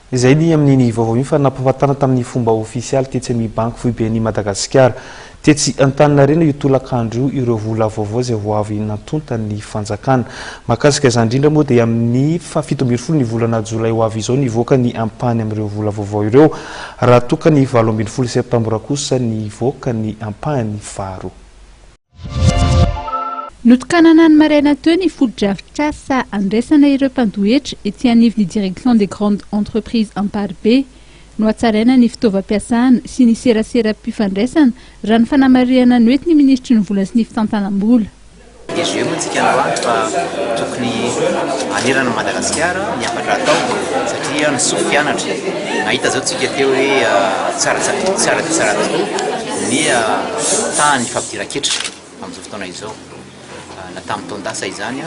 Izay ny amin'iny vaovao iny fa nampafatana tamin'ny fomba ofisialy tetsy amin'ny Banky Foiben'i Madagasikara, tetsy Antaninarenina io tolakandro io ireo vola vaovao izay vao avy nantontan'ny fanjakana. Mahakasika izany indrindra moa dia amin'ny faha fito ambin'ny folo ny volana jolay ho avy izao nivoaka ny ampahany amin'ireo vola vaovao ireo raha toa ka ny valo ambin'ny folo septambra kosa nivoaka ny ampahany faharoa. Notokanana ny maraina teo ny fotodrafitrasa handraisana ireo mpandoa hetra ety anivon'ny Direction des grandes entreprises Amparibe. Nohatsaraina ny fitaovam-piasana sy ny seraseram-pifandraisana, raha ny fanamarihana noentin' ny minisitry ny Vola sy ny fitantanam-bola. DG, Moa antsika androany fa tokony hanerana an'i Madagasikara ny hafatra atao satria ny sofianatra nahita izao tsika teo hoe tsara dia tsara tokoa. Niha taha ny fampidiran-ketra amin'izao fotoana izao, na tamin'ny taon-dasa izany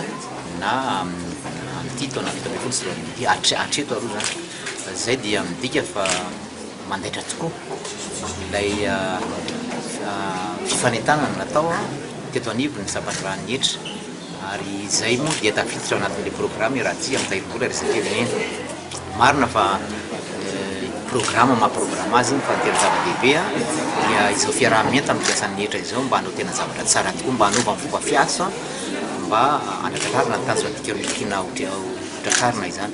na amin'ity taona fito ambin'ny folo sy roa arivo ity, hatreto aloha izany. Izay dia midika fa mandaitra tokoa ilay fifanentanana natao teto anivon'ny sampandraharahan'ny hetra. Ary izay moa dia tafiditra ao anatin'ilay programa i Ratsy amin'ny tahirim-bola resaky firenena. Marina fa programa maha programa azy iny fa ny tena zava-dehibe dia izao fiaraha-mienta amin'ny mpiasan'ny hetra izao mba hanao tena zavatra tsara tokoa, mba hanaovany fomba fiasa mba handrakarina ny tanjona tian'ny Fiana ho tratrarina izany.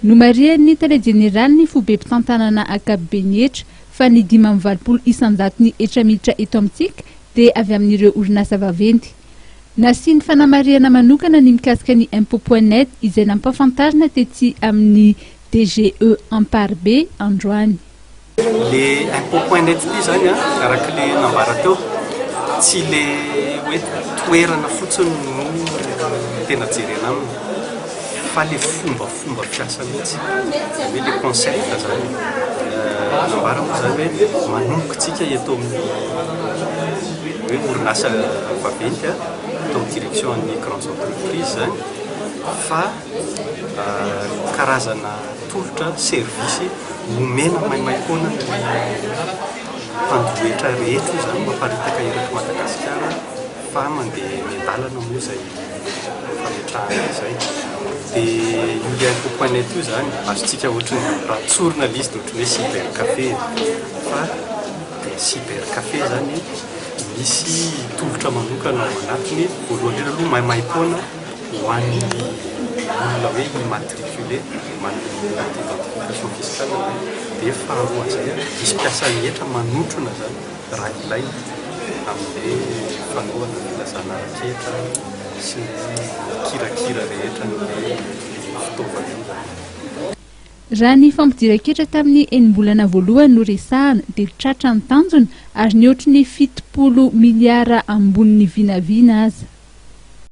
Nomarihan'ny Tale Jeneralin'ny Fobem-pitantanana Ankapoben'ny Hetra fa ny dimy amby valopolo isan-jaton'ny hetra miditra eto amintsika dia avy amin'ireo orinasa vaventy. Nasiany fanamarihana manokana ny mikasika ny Impôt point net izay nampahafantarina tetsy amin'ny DGE Amparibe androany. Le Impôt point net ity izany an, araka le nambara teo, tsy le hoe toerana fotsiny no tena jerena aminy fa le fomba Fomba fiasa mihitsy, izany hoe ilay concept izany nambarany fa izany hoe manomboka antsika eto amin'ny hoe orinasa vaventy atao en direction an'ny grandes entreprises izany fa karazana tolotra, service omena maimaimpoana ny mpanjohy hetra rehetra io izany mamparitaka eto Madagasikara. fa mandeha eny an-dalana moa izay fametrahana izay dia io lien coupe net io izany azontsika ohatran'ny raha tsorina ilay izy dia ohatran'ny hoe cybercafé fa dia cybercafé izany misy tolotra manokana ao anatiny voalohany indrindra aloha maimaim-poana ho an'ny olona hoe immatriculé manome identification fiscale dia faharoa izay misy mpiasan'ny hetra manotrona izany Raha ilaina, amin'ny fanohana ny filazana ara-ketra sy ny kirakira rehetra ny fitaovam-piovana. Raha ny fampidiran-ketra tamin'ny enim-bolana voalohany no resahana dia tratra ny tanjona ary nihoatry ny fitopolo miliara ambony ny vinavina aza.